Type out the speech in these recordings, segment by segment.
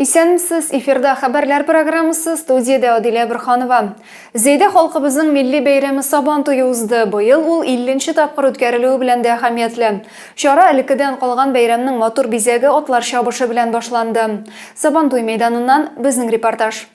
Исәнмесез, эфирда хәбәрләр программасы, студиядә Адилә Борханова. Зәйдә халкыбызның милли бәйрәме Сабан туе узды. Быел ул илленче тапкыр үткәрелүе белән дә әһәмиятле. Чара элеккедән калган бәйрәмнең матур бизәге атлар чабышы белән башланды. Сабантуй мәйданыннан безнең репортаж.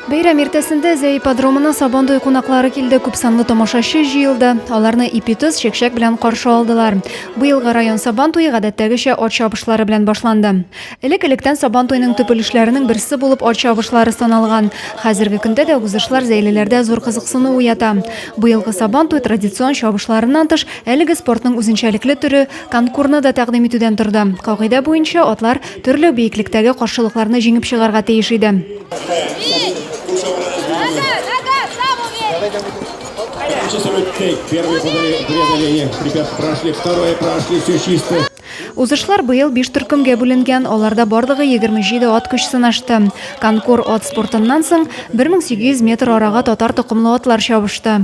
Бәйрәм иртәсендә Зәй ипподромына Сабандуй кунаклары килде. Күпсанлы тамашачы җыелды. Аларны ипитыз чәкчәк белән каршы алдылар. Быелгы район Сабантуе гадәттәгечә ат чабышлары белән башланды. Элек-электән Сабантуйның төп өлешләренең берсе булып ат чабышлары саналган. Хәзерге көндә дә узышлар зәйлеләрдә зур кызыксыну уята. Быелгы Сабантуй традицион чабышларыннан тыш, әлеге спортның үзенчәлекле төре Конкурны да тәкъдим итүдән торды. Кагыйдә буенча, атлар төрле биеклектәге каршылыкларны җиңеп чыгарга тиеш иде. Узышлар быел биш төркемгә бүленгән, аларда барлыгы 27 ат көч сынашты. Конкур ат спортыннан соң 1800 метр арага татар токымлы атлар чабышты.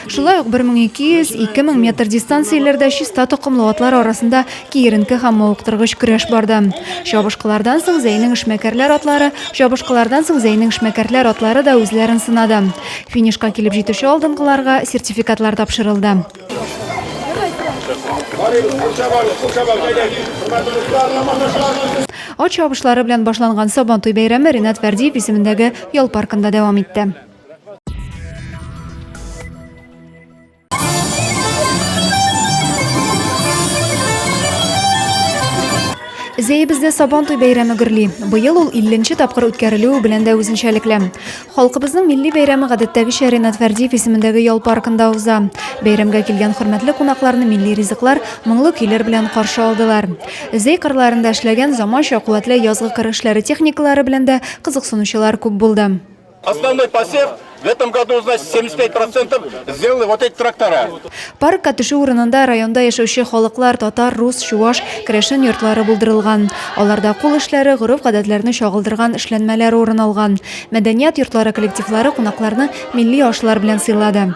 Шулай ук 1200-2000 метр дистанцияләрдә чиста токымлы атлар арасында киеренке һәм мавыктыргыч көрәш барды. Чабышкылардан соң Зәйнең эшмәкәрләр атлары, чабышкылардан соң Зәйнең эшмәкәрләр атлары да үзләрен сынады. Финишка килеп җитүче алдынгыларга сертификатлар тапшырылды. Ат чабышлары белән башланган Сабантуй бәйрәме Ренат Вәрдиев исемендәге ял паркында дәвам итте. Зәебездә Сабантуй бәйрәме гөрли. Быел ул 50 нче тапкыр үткәрелүе белән дә үзенчәлекле. Халкыбызның милли бәйрәме гадәттәгечә Ренат Фәрдиев исемендәге ял паркында уза. Бәйрәмгә килгән хөрмәтле кунакларны милли ризыклар, моңлы көйләр белән каршы алдылар. Зәй кырларында эшләгән заманча куәтле язгы кыр эшләре техникалары белән дә кызыксынучылар күп булды. Основной посев в этом году, значит, 75 процентов сделали вот эти трактора. Паркка төшү урынында районда яшәүче халыклар, татар, рус, чуваш, керәшен йортлары булдырылган. Аларда кул эшләре, гореф-гадәтләрне чагылдырган эшләнмәләр урын алган. Мәдәният йортлары коллективлары кунакларны милли ашлар белән сыйлады.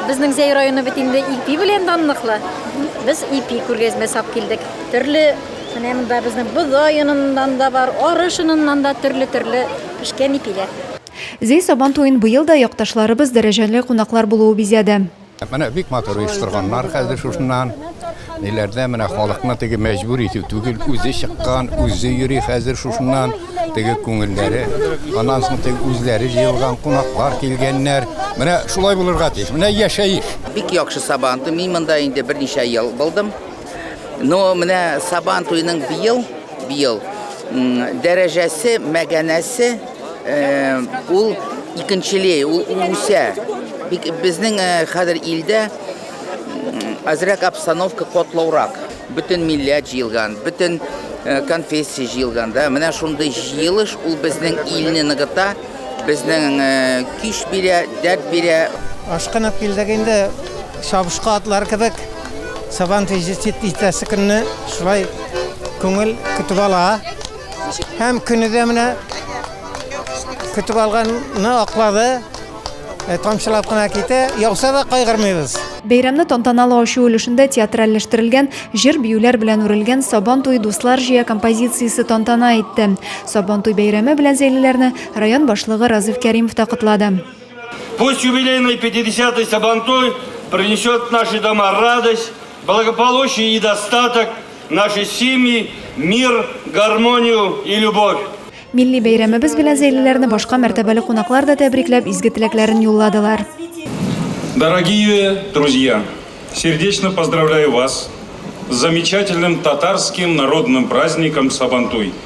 Безнең Зәй районы бит инде ипи белән данлыклы. Без ипи күргәзмәсе алып килдек. Төрле менә монда безнең бодай оныннан да бар, арыш оныннан да төрле-төрле пешкән ипиләр. Зәй Сабан туен быел да якташларыбыз, дәрәҗәле кунаклар булуы бизәде. Менә бик матур оештырганнар хәзер шушыннан. Ниләрдә менә халыкны теге мәҗбүр итү түгел, үзе чыккан, үзе йөри хәзер шушыннан. Теге күңелләре, аннан соң теге үзләре җыелган, кунаклар килгәннәр. Менә шулай булырга тиеш. Менә яшәеш. Бик яхшы Сабантуй. Мин монда инде берничә ел булдым. Ну, менә Сабан туеның быел, быел дәрәҗәсе, мәгәнәсе ул икенчелей, ул үсә. Безнең хәзер илдә азрак обстановка котлаурак. Бөтен милләт җыелган, бөтен конфессия җыелганда, менә шундый җыелыш ул безнең илне ныгыта. Безнең көч бирә, дәрт бирә. Ашкынып килдек инде, чабышкы атлар кебек. Сабан туе җитәсе көнне шулай күңел көтеп ала. Һәм көне дә менә көтеп алганны аклады. Тамчылап кына китә, яуса да кайгырмыйбыз. Бәйрәмне тантаналы ачу өлешендә театральләштерелгән, җыр-биюләр белән үрелгән Сабан туе дуслар җыя композициясе тантана итте. Сабантуй бәйрәме белән зәйлеләрне район башлыгы Разыйф Кәримов та котлады. Пусть юбилейный 50-й Сабантуй принесет в наши дома радость, благополучие и достаток, в наши семьи мир, гармонию и любовь. Милли бәйрәмебез белән зәйлеләрне башка мәртәбәле кунаклар да тәбрикләп, изге теләкләрен юлладылар. Дорогие друзья! Сердечно поздравляю вас с замечательным татарским народным праздником Сабантуй!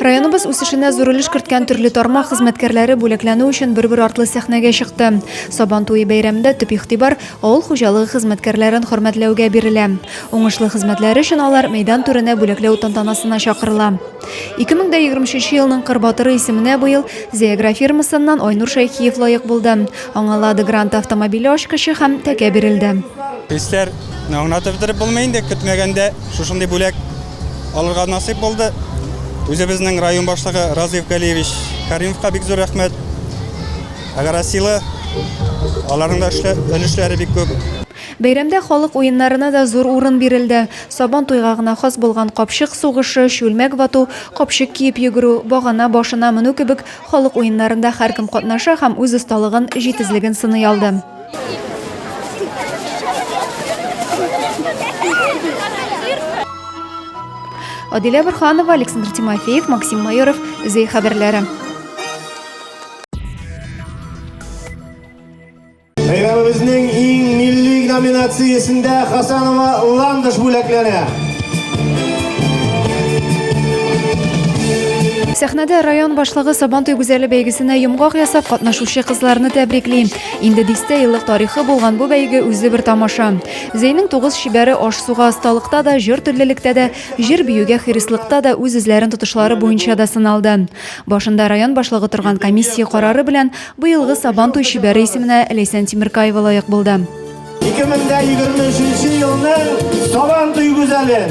Районыбыз үсешенә зур өлеш керткән төрле тармак хезмәткәрләре бүләкләнү өчен бер-бер артлы сәхнәгә чыкты. Сабан туе бәйрәмендә төп игътибар авыл хуҗалыгы хезмәткәрләрен хөрмәтләүгә бирелә. Уңышлы хезмәтләре өчен алар мәйдан түренә бүләкләү тантанасына чакырыла. 2023 елның Кыр батыры исеменә быел Зеагра фирмасыннан Айнур Шәйхиев лаек булды. Аңа Лада Гранта автомобиле ачкычы һәм тәкә бирелде. Хисләр аңлатып бетереп булмый инде, көтмәгәндә шушындый бүләк. Алырга насыйп булды. Үзебезнең район башлыгы Разыйф Галиевич Каримовка бик зур рәхмәт. Агросила аларның да өлешләре бик күп. Бәйрәмдә халык уеннарына да зур урын бирелде. Сабан туйга гына хас булган капчык сугышы, чүлмәк вату, капчык киеп йөгерү, багана башына менү кебек халык уеннарында һәркем катнаша һәм үз осталыгын, җитезлеген сыный алды. Адилә Бурханова, Александр Тимофеев, Максим Майоров, Зей хәбәрләре. Бәйрәмебезнең иң милли номинациясендә Хасанова Ландыш бүләкләре. Сәхнәдә район башлыгы Сабантуй гүзәле бәйгесенә йомгак ясап катнашучы кызларны тәбрикли. Инде дистә еллык тарихы булган бу бәйге үзе бер тамаша. Зейнең тугыз шибәре аш-суга осталыкта да, җыр төрлелектә дә, җыр биюгә хирислыкта да үз үзләрен тотышлары буенча да сыналды. Башында район башлыгы торган комиссия карары белән быелгы Сабан туй шибәре исеменә Ләйсән Тимеркаева лаек булды. 2023 елның Сабан туй гүзәле.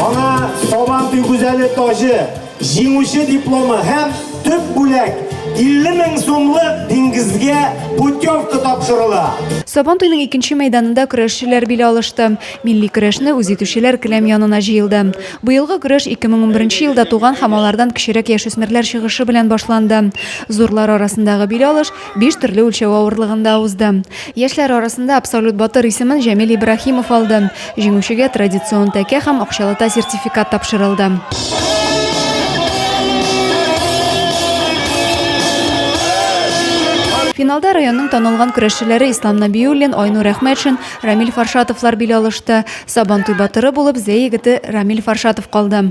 Аңа Сабан туй гүзәле тажы, җиңүче дипломы һәм төп бүләк 50 мең сумлык диңгезгә путевка тапшырыла. Сабан туйның икенче мәйданында көрәшчеләр биле алышты. Милли көрәшне үз итүчеләр келәм янына җыелды. Быелгы көрәш 2011 елда туган һәм алардан кечерәк яшүсмерләр чыгышы белән башланды. Зурлар арасындагы бил алыш Биш төрле үлчәү авырлыгында узды. Яшьләр арасында абсолют батыр исемен Җәмил Ибраһимов алды. Җиңүчегә традицион тәкә һәм акчалата сертификат тапшырылды. Финалда районның танылган көрәшчеләре Ислам Набиуллин, Айнур Әхмәтшин, Рамиль Фаршатовлар бил алышты. Сабантуй батыры булып Зәй егете Рамиль Фаршатов калды.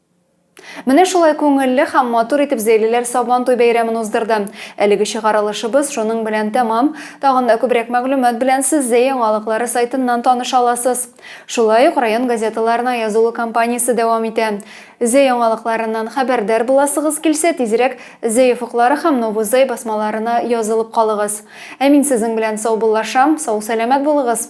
Менә шулай күңелле һәм матур итеп зәйлеләр Сабантуй бәйрәмен уздырды. Әлеге чыгарылышыбыз шуның белән тәмам. Тагын да күбрәк мәгълүмат белән сез Зәй яңалыклары сайтыннан таныша аласыз. Шулай ук район газеталарына язылу кампаниясе дәвам итә. Зәй яңалыкларыннан хәбәрдар буласыгыз килсә, тизрәк Зәй офыклары һәм Новый Зәй басмаларына язылып калыгыз. Ә мин сезнең белән саубуллашам, сау-сәламәт булыгыз!